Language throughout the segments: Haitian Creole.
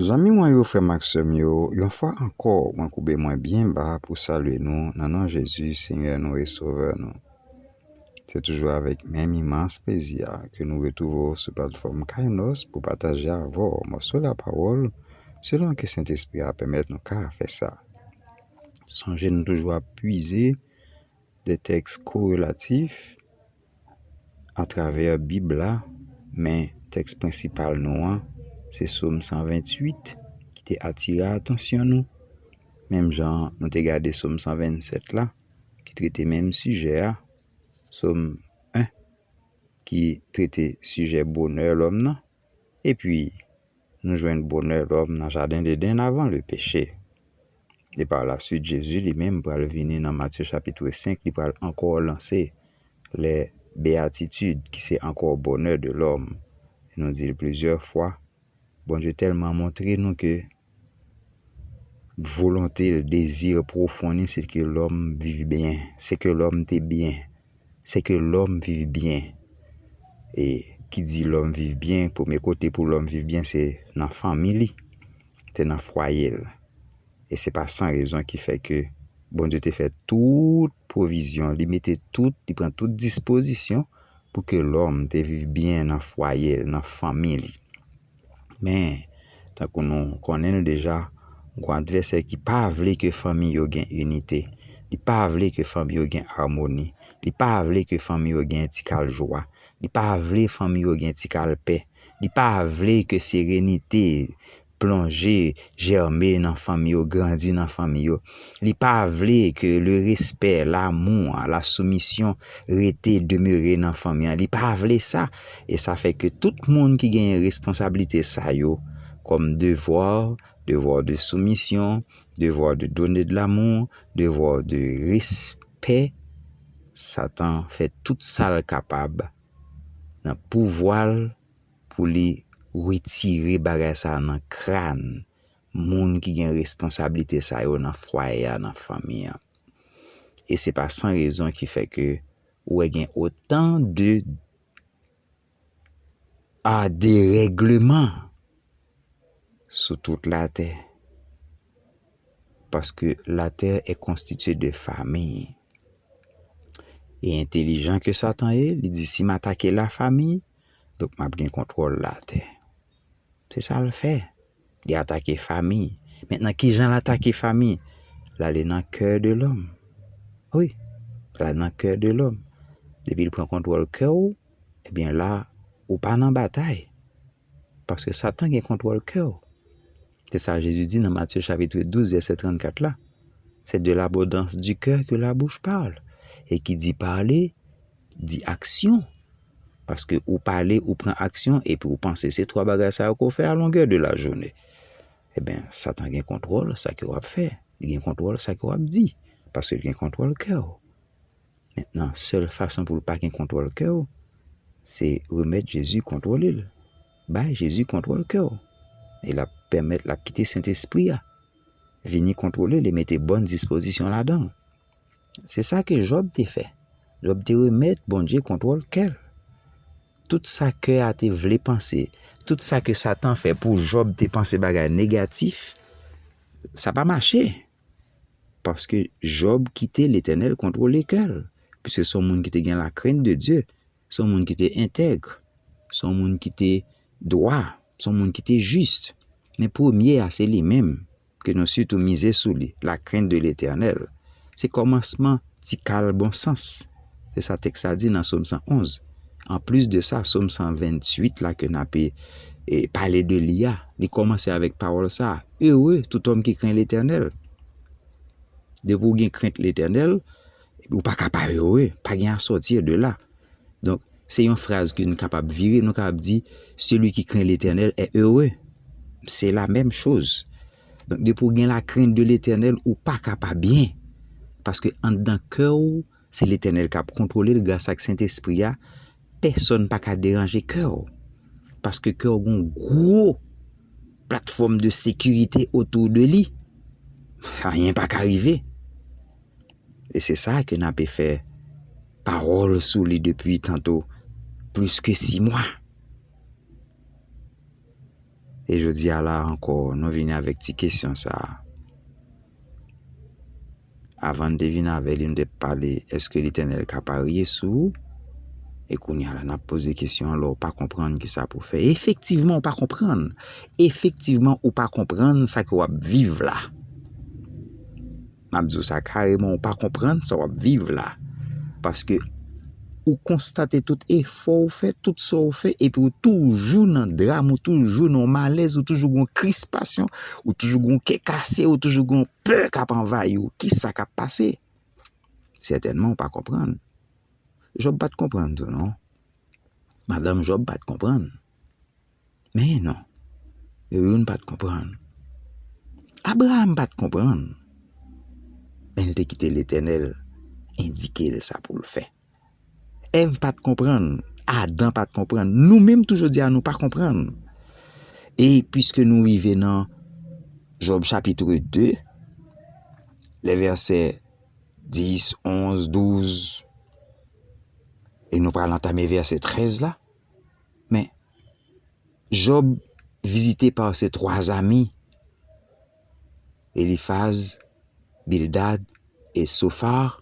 Zanmi mwen yo, frè m ak sè m yo, yon fwa ankò, mwen koube mwen byen ba pou salye nou nan non Jezi, Senyè nou e Sovè nou. Se toujou avèk menm imans plezi a ke nou retwouve w sou platfòm Kainos pou pataje avè w mòso lapawòl selon ke Sentespri a pèmèt nou ka fè sa. Sonje nou toujou ap pwize. De tèks korelatif atravè Bib la, men tèks prensipal nou an se Som 128 ki te atire atansyon nou, menm jan nou te gade Som 127 la ki trete menm sijè a, Som 1 ki trete sijè bonè lòm nan, Epi, nou jwenn bonè lòm nan Jaden Dedenn avan lepeche. E pa la suit Jezi li menm pral vini nan Matye chapitre 5, li pral ankò lanse lè beyatitid ki se ankò bonè de lòm. E nou di l plizyè fwa, Bondye tèlman montre nou ke Volonte l, dezi pwofon li se ke lòm viv byen, se ke lòm te byen, se ke lòm viv byen. E ki di lòm viv byen, premye kote pou lòm viv byen se nan fanmi li, se nan fwaye l. E se pa san rezon ki fè ke Bondye te fè tout pwovizyon, li mete tout, li pran tout dispozisyon pou ke lòm te viv byen nan fwaye l, nan fanmi li. Men, tankou nou konnen l deja, gwo advèsè ki pa vle ke fanmi yo gen inite, li pa vle ke fanmi yo gen amoni, li pa vle ke fanmi yo gen ti kal jwa, li pa vle fanmi yo gen ti kal pè, li pa vle ke serenite plonje, jèmen nan fanmi yo, grandi nan fanmi yo. Li pa vle ke le respè, lamou, la soumisyon rete, demere nan fanmi an. Li pa vle sa. E sa fè ke tout moun ki genyen responsablite sa yo kòm devwa, devwa de soumisyon, devwa de done de lamou, devwa de respè, Satan fè tout sa l kapab nan pouvwa l pou li retire bagay sa nan kran moun ki gen responsablite sa yo nan fwaye a, nan fanmi an. E se pa san rezon ki fè ke ou wè gen otan de a deregleman sou tout la tè. Paske la tè e konstitye de fami. E entelijan ke satan ye, li di si m atake la fami, donk m ap gen kontwòl la tè. Se sa l fè. Li atake fami. Mentnan kijan l atake fami? L ale nan kè de lòm. Wi, l ale nan kè de lòm. Depi l pran kontwòl kè w, ebyen la ou pa nan batay. Paske satan gen kontwòl kè w. Se sa Jezi di nan Matye chapitre 12 vèsè 34 la, Se de labondans di kè ke la bouch pale. E ki di pale. di aksyon. Paske ou pale, ou pran aksyon, epi ou panse se 3 bagay sa yo ke w fè a longè de la jounen. Eben, satan gen kontwòl sa ke w ap fè. Li gen kontwòl sa ke w ap di. Paske li gen kontwòl kè w. Mentnan, sèl fason pou l pa gen kontwòl kè w, se remèt Jezi kontwòle l. Bay Jezi kontwòl kè w. E l ap pèmèt, l ap kite Sentespri a vini kontwòle l e mete bòn dispozisyon ladan l. Se sa ke Jòb te fè. Jòb te remèt Bondye kontwòl kè l. Tout sa kè a te vle panse, tout sa ke Satan fè pou Jòb te panse bagay negatif, sa pa mache. Paske Jòb kite Letènèl kontwole kè l. Piske se yon moun ki te gen lakrent de Dye. Se yon moun ki te entègre. Se yon moun ki te dwa. Se yon moun ki te jis. Men premye a, se li menm ke nou sitou mize sou li, la krent de Letènèl. Se kòmansman ti kal bon sans. Se sa tèks la di nan Som 111. An plis de sa, Som 128 la ke n ape pale de li a, li kòmanse avèk pawòl sa, Ere tout òm ki kren Letènèl. Depi ou gen krent Letènèl, Ou pa ka pa ere, pa gen a sortir de là. Donk, se yon fraz ke nou kapab vire, nou kapab di, Celui qui craint l'Eternel est heureux. Se la menm choz. Donk, depi ou gen la krent de Letènèl, ou pa ka pa byen. Paske anndan kè ou, se Letènèl kap kontwole l gras ak Sentespri a, pèsòn pa ka deranje kè ou. Paske kè ou gon gwo platfòm de sekirite otou de li. Anyen pa ka rive. E se sa ke nape fè pawòl sou li depi tanto plis ke si mwa. E jodi a la ankò nou vini avèk ti kesyon sa a. Avan nou te vini avè li nou te pale eske Letènèl ka parye sou ou? E kounye a la nap poze kesyon an lè ou pa konprann kisa pou fè. Efektivman ou pa konprann. Efektivman ou pa konprann sa ke wap viv la. Map di w sa kareman ou pa konprann sa wap viv la paske ou konstate tout efò ou fè tout sa ou fè epi ou toujou nan dram ou toujou nan malèz ou toujou gon krispasyon ou toujou gon kè kase ou toujou gon pè kap anvayi ou kisa kap pase sètènman ou pa konprann Jòb pat konprann tou non madanm Jòb pat konprann. Men non, yo youn pa t konprann. Abraram pa t konprann, men l te kite Letènèl endike l sa pou l fè. Èv pa t konprann, Adan pa t konprann, nou menm tou jodi a nou pa konprann. E piske nou rive nan Jòb chapitre 2, lè vèsè 10, 11, 12, e nou pral antame vèsè 13 la, Men, Jòb vizite pa se twa zami, Elifaz, Bildad e Sofar,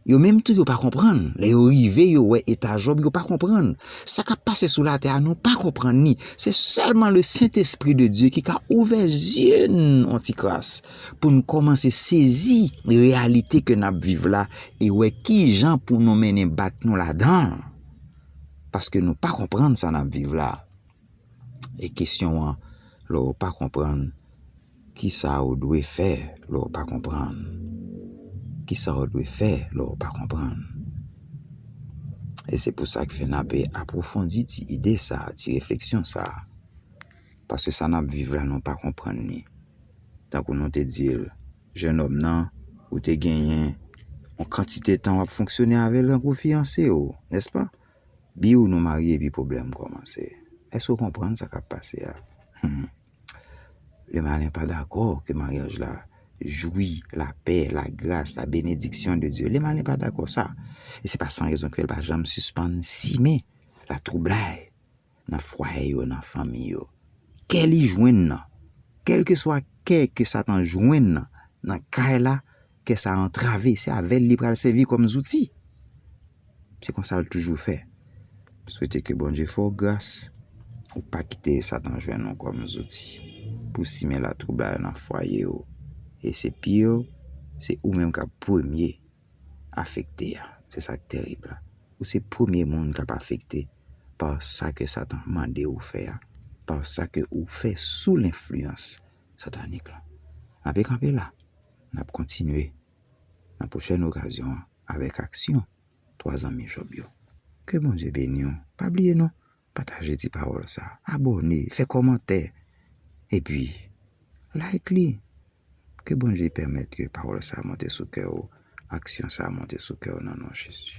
yo menm tou yo pa konprann, lè yo rive yo wè eta Jòb yo pa konprann. Sa k ap pase sou latè a nou pa konprann li, se sèlman le Sentespri de Dye ki ka ouvè zye n yon ti kras pou n kòmanse sezi reyalite ke n ap viv la e wè kijan pou nou mennen bak nou ladan l. Paske nou pa konprann sa nap viv la. E kesyon an, lè ou pa konprann, kisa ou dwe fè lè ou pa konprann? Kisa ou dwe fè lè ou pa konprann? E se pou sa k fè nap apwofondi ti ide sa, ti refleksyon sa. Paske sa nap viv la nou pa konprann li. Tankou nou te di l, Jenòm nan, ou te genyen yon kantite tan w ap fonksyone avè l tankou fiyanse w, nèspa? Biw nou marye epi pwoblèm kòmanse. Èske w konprann sa k ap pase a? Hum! Lemalen pa dakò ke maryaj la jwi lapè, lagras, labenediksyon de Dye. Lemalen pa dakò sa. E se pa san rezon ke l pa janm sispann simen latwoublay. nan fwaye yo, nan fanmi yo. Kè li jwenn nan, kèlkeswa kè ke Satan jwenn nan, nan kay la, kè sa antrave, se avè l li pral sèvi kòm zouti. Se konsa l toujou fè. M swete ke Bondye fè w gras, ou pa kite Satan jwenn ou kòm zouti pou simen latwoublay nan fwaye ou. E se pire, se ou menm k ap premye afekte a. Se sa k terib la. Ou se premye moun k ap afekte pa sa ke Satan mande ou fè a, pa sa ke ou fè sou lenfliyans satanik la. N ape kanpe la. N ap kontinye nan pwochèn okazyon an avèk aksyon 3 zanmi Jòb yo. Ke Bondye beni w. Pa bliye non, Pataje ti pawòl sa, abòne, fè kòmantè, epi like li. Ke Bondye pèmèt ke pawòl sa monte sou kè ou, aksyon sa monte sou kè ou nan non Jezi.